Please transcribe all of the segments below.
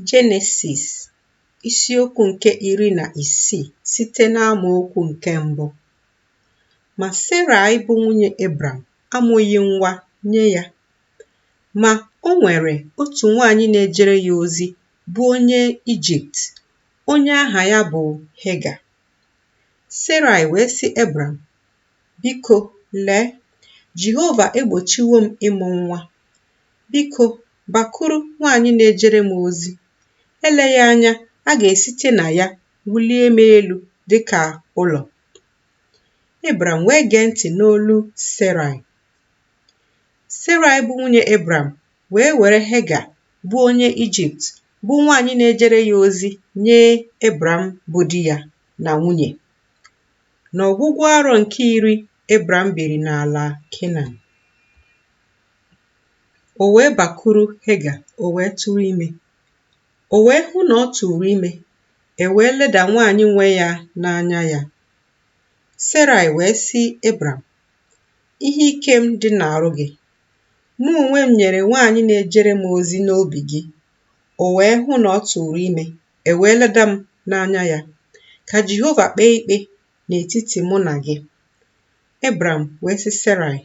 Jenesis isiokwu nke iri na isii site n'amaokwu nke mbụ ma Serai bụ nwunye Ebram amụghị nwa nye ya ma o nwere otu nwaanyị na-ejere ya ozi bụ onye Ijipt onye aha ya bụ Hega Serai wee sị Ebram biko lee Jehova egbochiwo m ịmụ nwa Biko, bakuru nwaanyị na-ejere m ozi. Eleghị anya a ga-esite na ya wulie m elu dị ka ụlọ. Ebram wee gee ntị n'olu Serai. Serai bụ nwunye Ebram wee were Hega bụ onye Ijipt bụ nwaanyị na-ejere ya ozi nye Ebram bụ di ya na nwunye. N'ọgwụgwụ arọ nke iri Ebram biri n'ala Kenan. O wee bakuru Hega, o wee tụrụ ime. O wee hụ na ọ tụụrụ ime, e wee leda nwaanyị nwe ya n'anya ya. Serai wee sị Ebram, Ihe ike m dị n'arụ gị. Mụ onwe m nyere nwaanyị na-ejere m ozi n'obi gị. O wee hụ na ọ tụụrụ ime, e wee leda m n'anya ya. Ka Jehova kpee ikpe n'etiti mụ na gị. Ebram wee sị Serai,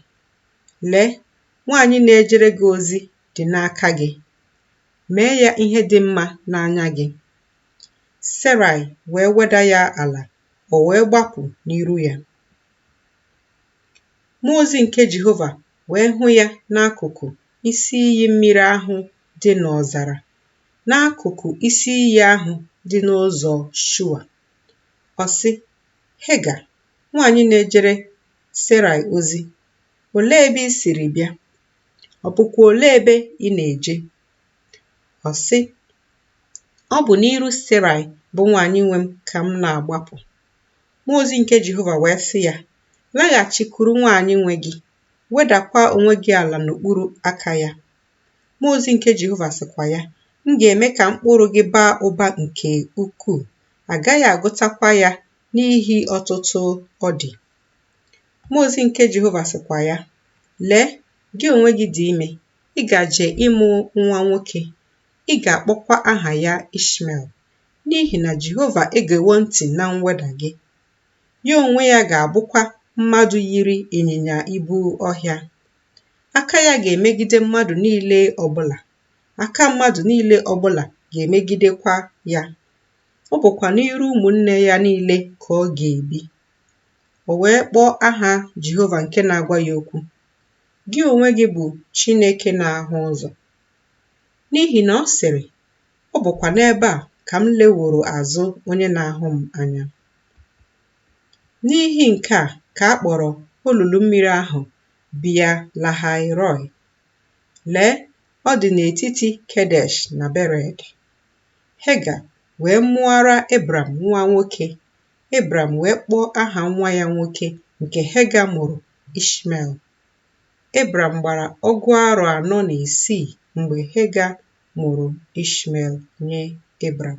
Lee, nwaanyị na-ejere gị ozi dị n'aka gị. Mee ya ihe dị mma n'anya gị. Serai wee weda ya ala, o wee gbapụ n'iru ya. Mmụọ ozi nke Jehova wee hụ ya n'akụkụ isi iyi mmiri ahụ dị n'ọzara, n'akụkụ isi iyi ahụ dị n'ụzọ Shua. Ọ sị, Hega, nwaanyị na-ejere Serai ozi, olee ebe i siri bịa? Ọ bụkwa olee ebe ị na-eje? Ọ sị, Ọ bụ n'iru Serai bụ nwaanyị nwe m ka m na-agbapụ. Mmụọ ozi nke Jehova wee sị ya, Laghachikwuru nwaanyị nwe gị, wedakwa onwe gị ala n'okpuru aka ya. Mmụọ ozi nke Jehova sịkwa ya, M ga-eme ka mkpụrụ gị baa ụba nke ukwuu, a gaghị agụtakwa ya n'ihi ọtụtụ ọ dị. Mmụọ ozi nke Jehova sịkwa ya, Lee, gị onwe gị dị ime, ị gaje ịmụ nwa nwoke, ị ga-akpọkwa aha ya Ishmel, n'ihi na Jehova egewo ntị na mweda gị. Ya onwe ya ga-abụkwa mmadụ yiri ịnyịnya ibu ọhịa. Aka ya ga-emegide mmadụ niile ọbụla, aka mmadụ niile ọbụla ga-emegidekwa ya. Ọ bụkwa n'iru ụmụnne ya niile ka ọ ga-ebi. O wee kpọọ aha Jehova nke na-agwa ya okwu, Gị onwe gị bụ Chineke na-ahụ ụzọ. N'ihi na ọ sịrị, Ọ bụkwa n'ebe a ka m leworo azụ onye na-ahụ m anya. N'ihi nke a ka a kpọrọ olulu mmiri ahụ Bia Lahai Roi. Lee, ọ dị n'etiti Kedesh na Bered. Hega wee mụọra Ebram nwa nwoke, Ebram wee kpọọ aha nwa ya nwoke nke Hega mụrụ Ishmel. Ebram gbara ọgụ arọ anọ na isii mgbe Hega mụrụ Ishmel nye Ebram.